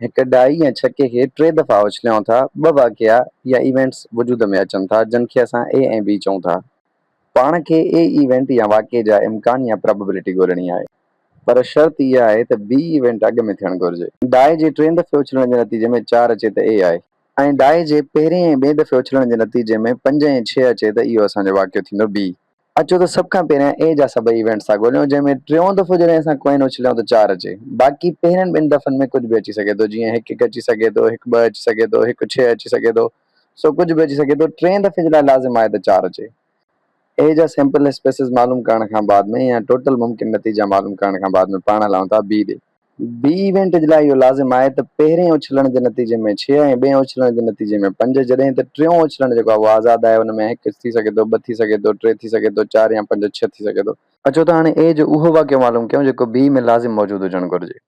هڪ ڊائي يا ڇڪي کي ٽي دفعا اڇليائون ٿا، ٻه واقعا يا ايونٽس وجود ۾ اچن ٿا، جن کي اسان اي ۽ بي چئون ٿا. پاڻ کي اي ايونٽ يا واقعي جا امڪان يا پراببلٽي ڳولڻي آهي، پر شرط اها آهي ته بي ايونٽ اڳ ۾ ٿيڻ گهرجي. ڊائي جي ٽئين دفعي اڇلڻ جي نتيجي ۾ چار اچي ته اي آهي. ۽ ڊائي جي پهرين ۽ ٻئين دفعي اڇلڻ جي نتيجي ۾ پنج ۽ ڇهه اچي ته اهو اسان جو واقعو ٿيندو بي. اچو ته سڀ کان پهريان اي جا سڀئي ايونٽس ٿا ڳوليون جنهن ۾ ٽيون دفعو جڏهن اسان ڪوئن اڇليون ته چار اچي باقي پهرين ٻن دفعن ۾ ڪجهه به اچي سگهي ٿو جيئن هڪ هڪ اچي سگهي ٿو هڪ ٻه اچي سگهي ٿو هڪ ڇهه اچي سگهي ٿو سو ڪجهه به اچي سگهي ٿو ٽئين دفعي جي لاء لازم آهي ته چار اچي اي جا سيمپل اسپيسز معلوم ڪرڻ کان بعد ۾ يا ٽوٽل ممڪن نتيجا معلوم ڪرڻ کان بعد ۾ پاڻ هلائون ٿا بي ڏي. بي ايونٽ جي لاء اهو لازم آهي ته پهرين اڇلڻ جي نتيجي ۾ ڇهه ۽ ٻئين اڇلڻ جي نتيجي ۾ پنج جڏهن ته ٽيون اڇلڻ جيڪو آهي اهو آزاد آهي ان ۾ هڪ ٿي سگهي ٿو ٻه ٿي سگهي ٿو ٽي ٿي سگهي ٿو چار يا پنج ڇهه ٿي سگهي ٿو. اچو ته هاڻي اي جو اهو واقعو معلوم ڪيون جيڪو بي ۾ لازم موجود هجڻ گهرجي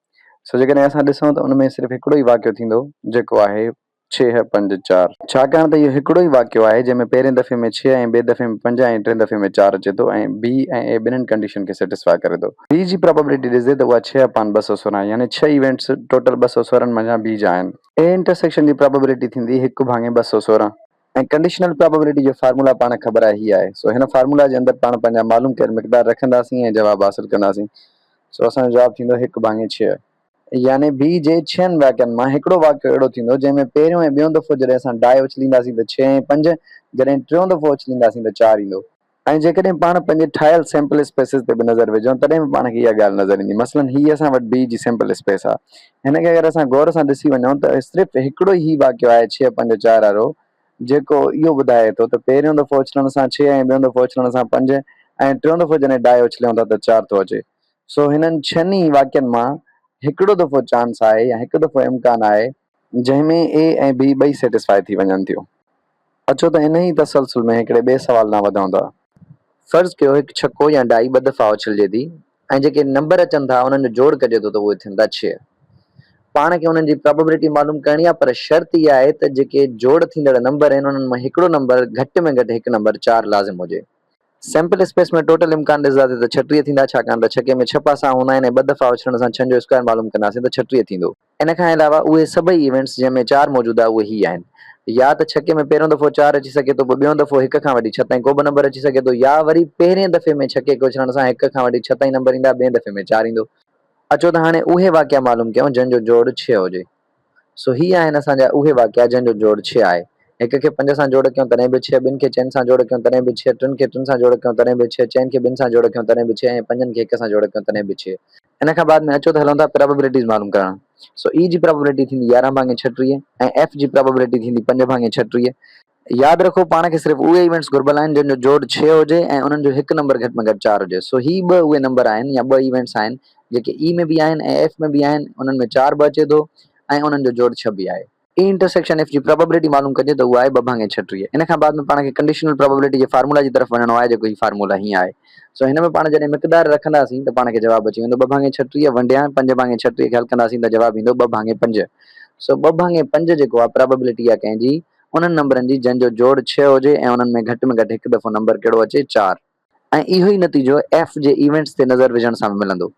سو جيڪڏهن اسان ڏسون ته ان ۾ صرف هڪڙو ئي واقعو ٿيندو جيڪو آهي. ڇهه، پنج، چار. ڇاڪاڻ ته اهو هڪڙو ئي واقعو آهي جنهن ۾ پهرين دفعي ۾ ڇهه ۽ ٻئي دفعي ۾ پنج ۽ ٽين دفعي ۾ چار اچي ٿو ۽ بي ۽ اي ٻنهن ڪنڊيشن کي سيٽسفاء ڪري ٿو. بي جي پرابيبلٽي ڏسجي ته اها ڇهه اپان ٻه سؤ سورهن يعني ڇهه ايونٽس ٽوٽل ٻه سؤ سورهن منجهان بي جا آهن. اي انٽرسيڪشن جي پرابيبلٽي ٿيندي هڪ ڀاڱي ٻه سؤ سورهن. ۽ ڪنڊيشنل پرابيبلٽي جو فارمولا پاڻ خبر آهي هي آهي. سو هن فارمولا جي اندر پاڻ پنهنجا معلوم ڪيل مقدار رکنداسين ۽ جواب حاصل ڪنداسين. سو اسان جو جواب ٿيندو هڪ ڀاڱي ڇهه. يعني بي جي ڇهن واقعن مان هڪڙو واقعو اهڙو ٿيندو جنهن ۾ پهريون ۽ ٻيون دفعو جڏهن اسان ڊائي اڇلينداسين ته ڇهه ۽ پنج جڏهن ٽيون دفعو اڇلينداسين ته چار ايندو. ۽ جيڪڏهن پاڻ پنهنجي ٺاهيل سيمپل اسپيسز تي به نظر وجهون تڏهن به پاڻ کي اها ڳالهه نظر ايندي مثلا هي اسان وٽ بي جي سيمپل اسپيس آ هن کي اگر اسان غور سان ڏسي وڃون ته صرف هڪڙو ئي هي واقعو آهي ڇهه پنج چار وارو جيڪو اهو ٻڌائي ٿو ته پهريون دفعو اڇلڻ سان ڇهه ۽ ٻيون دفعو اڇلڻ سان پنج ۽ ٽيون دفعو جڏهن ڊائي اڇليون ٿا ته چار ٿو اچي سو هنن ڇهن ئي واقعن مان هڪڙو دفعو چانس آهي يا هڪ دفعو امڪان آهي، جنهن ۾ اي ۽ بي ٻئي سيٽسفائي ٿي وڃن ٿيون اچو ته انهيء تسلسل ۾ هڪڙي ٻئي سوال ڏانهن وڌون ٿا. فرض ڪيو هڪ ڇڪو يا ڊائي ٻه دفعا اڇلجي ٿي ۽ جيڪي نمبر اچن ٿا انهن جو جوڙ ڪجي ٿو ته اهي ٿين ٿا ڇهه. پاڻ کي انهن جي پرابيبلٽي معلوم ڪرڻي آهي پر شرط اها آهي ته جيڪي جوڙ ٿيندڙ نمبر آهن انهن مان هڪڙو نمبر گهٽ ۾ گهٽ هڪ نمبر چار لازم هجي سيمپل اسپيس ۾ ٽوٽل امڪان ڏسداسين ته ڇٽيهه ٿيندا ڇاڪاڻ ته ڇڪي ۾ ڇهه پاسا هوندا آهن ۽ ٻه دفعا اڇلڻ سان ڇهن جو اسڪوائر معلوم ڪنداسين ته ڇٽيهه ٿيندو. ان کان علاوه اهي سڀئي ايونٽس جنهن ۾ چار موجود آهي اهي هي آهن، يا ته ڇڪي ۾ پهريون دفعو چار اچي سگهي ٿو پوء ٻيون دفعو هڪ کان وٺي ڇهه تائين ڪو به نمبر اچي سگهي ٿو يا وري پهرين دفعي ۾ ڇڪي کي اڇلڻ سان هڪ کان وٺي ڇهه تائين نمبر ايندا ٻئين دفعي ۾ چار ايندو. اچو ته هاڻي اهي واقعا معلوم ڪيون جن جو جوڙ ڇهه هجي. سو هي آهن اسان جا اهي واقعا جن جو جوڙ ڇهه آهي. هڪ کي پنج سان جوڙ ڪيون تڏهن به ڇهه، ٻن کي چئن سان جوڙ ڪيون تڏهن به ڇهه، ٽن کي ٽن سان جوڙ ڪيون تڏهن به ڇهه، چئن کي ٻن سان جوڙ ڪيون تڏهن به ڇهه ۽ پنجن کي هڪ سان جوڙ ڪيون تڏهن به ڇهه. ان کان بعد ۾ اچو ته هلون ٿا پرابيبلٽيز معلوم ڪرڻ. سو E جي پرابيبلٽي ٿيندي يارهن ڀاڱي ڇٽيهه ۽ F جي پرابيبلٽي ٿيندي پنج ڀاڱي ڇٽيهه. ياد رکو پاڻ کي صرف اهي ايونٽس گهربل آهن جن جو جوڙ ڇهه هجي ۽ انهن جو هڪ نمبر گهٽ ۾ گهٽ چار هجي سو هي ٻه اهي نمبر آهن يا ٻه ايونٽس آهن جيڪي E ۾ به آهن ۽ F ۾ به آهن انهن ۾ چار به اچي ٿو ۽ انهن جو جوڙ ڇهه به آهي. E انٽرسيڪشن F جي پرابيبلٽي معلوم ڪجي ته اها آهي ٻه ڀاڱي ڇٽيهه ان کان بعد ۾ پاڻ کي ڪنڊيشنل پرابيبلٽي جي فارمولا جي طرف وڃڻو آهي جيڪو هي فارمولا هي آهي سو هن ۾ پاڻ جڏهن مقدار رکنداسين ته پاڻ کي جواب اچي ويندو ٻه ڀاڱي ڇٽيهه ونڊيان پنج ڀاڱي ڇٽيهه کي حل ڪنداسين ته جواب ايندو ٻه ڀاڱي پنج سو ٻه ڀاڱي پنج جيڪو آهي پرابيبلٽي آهي ڪنهن جي انهن نمبرن جي جنهن جو جوڙ ڇهه هجي ۽ انهن ۾ گهٽ ۾ گهٽ هڪ دفعو نمبر ڪهڙو اچي چار. ۽ اهو ئي نتيجو ايف جي ايونٽس تي نظر وجهڻ سان به ملندو.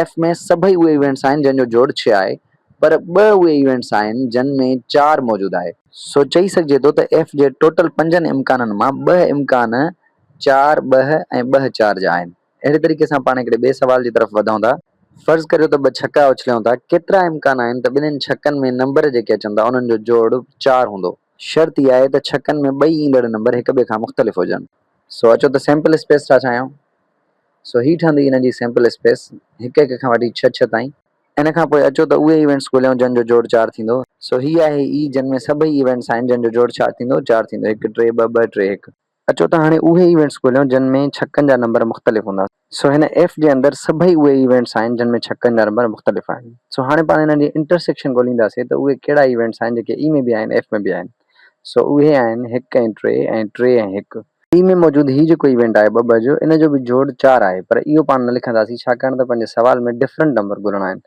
ايف ۾ سڀئي اهي ايونٽس آهن جن جو جوڙ ڇهه آهي پر ٻه اهي ايونٽس آهن جن ۾ چار موجود آهي. سو چئي سگهجي ٿو ته ايف جي ٽوٽل پنجن امڪانن مان ٻه امڪان چار ٻه ۽ ٻه چار جا آهن. اهڙي طريقي سان پاڻ هڪڙي ٻئي سوال جي طرف وڌون ٿا. فرض ڪريو ته ٻه ڇڪا اڇليون ٿا. ڪيترا امڪان آهن ته ٻنهين ڇڪن ۾ نمبر جيڪي اچن ٿا انهن جو جوڙ چار هوندو. شرط اها آهي ته ڇڪن ۾ ٻئي ايندڙ نمبر هڪ ٻئي کان مختلف هجن. سو اچو ته سيمپل اسپيس ٺاهه ٺاهيون. سو هي ٺهندي هن جي سيمپل اسپيس هڪ هڪ کان وٺي ڇهه ڇهه تائين. ان کان پوء اچو ته اهي ايونٽس ڳوليون جن جو جوڙ چار ٿيندو. سو هي آهي اي جن ۾ سڀئي ايونٽس آهن جن جو جوڙ ڇا ٿيندو؟ چار ٿيندو. هڪ ٽي ٻه ٻه ٽي هڪ. اچو ته هاڻي اهي ايونٽس ڳوليون جن ۾ ڇڪن جا نمبر مختلف هوندا. سو هن ايف جي اندر سڀئي اهي ايونٽس آهن جن ۾ ڇڪن جا نمبر مختلف آهن. سو هاڻي پاڻ انهن جي انٽرسيڪشن ڳولينداسين ته اهي ڪهڙا ايونٽس آهن جيڪي اي ۾ به آهن ايف ۾ به آهن. سو اهي آهن هڪ ۽ ٽي ۽ ٽي ۽ هڪ. اي ۾ موجود هي جيڪو ايونٽ آهي ٻه ٻه جو ان جو به جوڙ چار آهي پر اهو پاڻ نه لکنداسين ڇاڪاڻ ته پنهنجي سوال ۾ ڊفرنٽ نمبر ڳولڻا آهن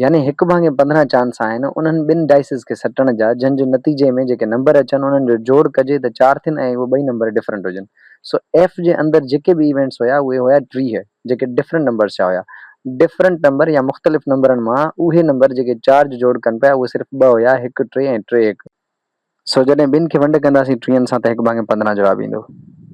يعني هڪ ڀاڱي پندرهن چانس آهن انهن ٻن ڊائسز کي سٽڻ جا جن جي نتيجي ۾ جيڪي نمبر اچن انهن جو جوڙ ڪجي ته چار ٿين ۽ اهي ٻئي نمبر ڊفرنٽ هجن سو ايف جي اندر جيڪي به ايونٽس هيا اهي هيا ٽيهه جيڪي ڊفرنٽ نمبرز جا هيا ڊفرنٽ نمبر يا مختلف نمبرن مان اهي نمبر جيڪي چار جو جوڙ ڪن پيا اهي صرف ٻه هيا هڪ ٽي ۽ ٽي هڪ سو جڏهن ٻن کي ونڊ ڪنداسين ٽيهن سان ته هڪ ڀاڱي پندرهن جواب ايندو.